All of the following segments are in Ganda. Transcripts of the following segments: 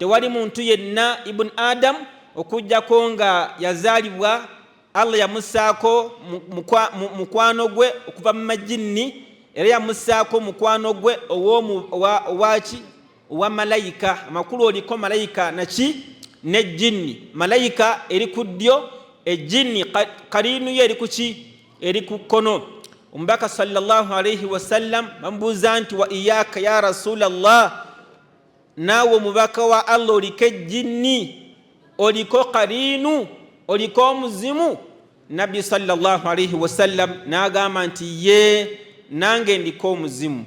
tewali muntu yenna ibun adamu okujjako nga yazaalibwa allah yamusaako mukwano gwe okuva mu majinni era yamusaako mukwano gwe owaki owa malayika amakulu oliko malayika naki ne jinni malayika eri ku ddyo ejinni kariinuyo eri kuki eri ku kkono omubaka salllah alaihi wasallam bamubuuza nti wa iyaka ya rasula llah naawe omubaka wa allah oliko ejjinni oliko kariinu oliko omuzimu nabbi salllahalaihi wasallam n'agamba nti ye nange ndiko omuzimu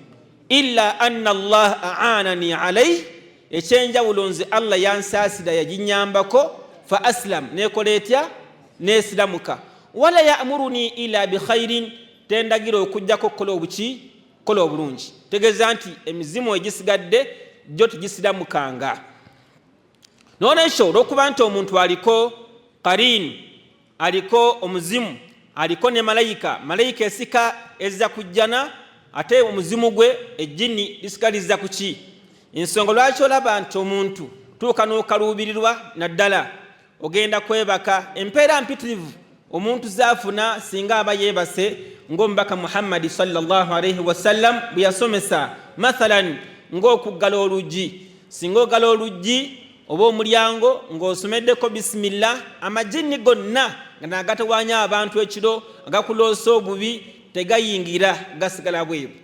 ila anna allah aanani alaihi ekyenjawulo nze allah yansaasira yaginyambako fa asilam nekola etya nesiramuka wala yamuruni ila bikhairin tendagira okujjako okukola obuki kola obulungi tegeeza nti emizimu egisigadde gyo tegisiramukanga nolwekyo olwokuba nti omuntu aliko kariini aliko omuzimu aliko ne malayika malayika esika ezza ku jjana ate omuzimu gwe ejjini lisika lizza ku ki ensonga lwaki olaba nti omuntu tuuka n'okaluubirirwa naddala ogenda kwebaka empeera mpitirivu omuntu zaafuna singa aba yeebase ng'omubaka muhammadi salllah alaihi wasallam bwe yasomesa mathalan ng'okuggala oluggi singa ogala oluggi oba omulyango ng'osomeddeko bisimillah amajinni gonna nga nagatawanya abantu ekiro agakuloosa obubi tegayingira gasigala bwebu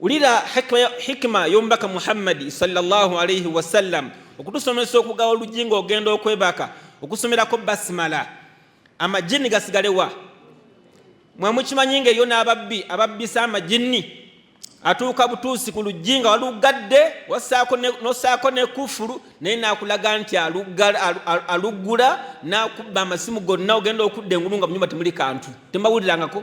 Wulira hikima y'omubaka Muhammadi sallallahu alaihi wasallam okutusomesa okugawa oluggi ng'ogenda okwebaka okusomerako basimala amajini gasigalewa mwemukimanyi nga eyo n'ababbi ababbisa amajini atuuka butuusi ku luggi nga waluggadde nosaako nekufulu naye nakulaga nti aluggula nakubba amasimu gonna ogenda okudda engulu nga munyumba temuli kantu temawulirangako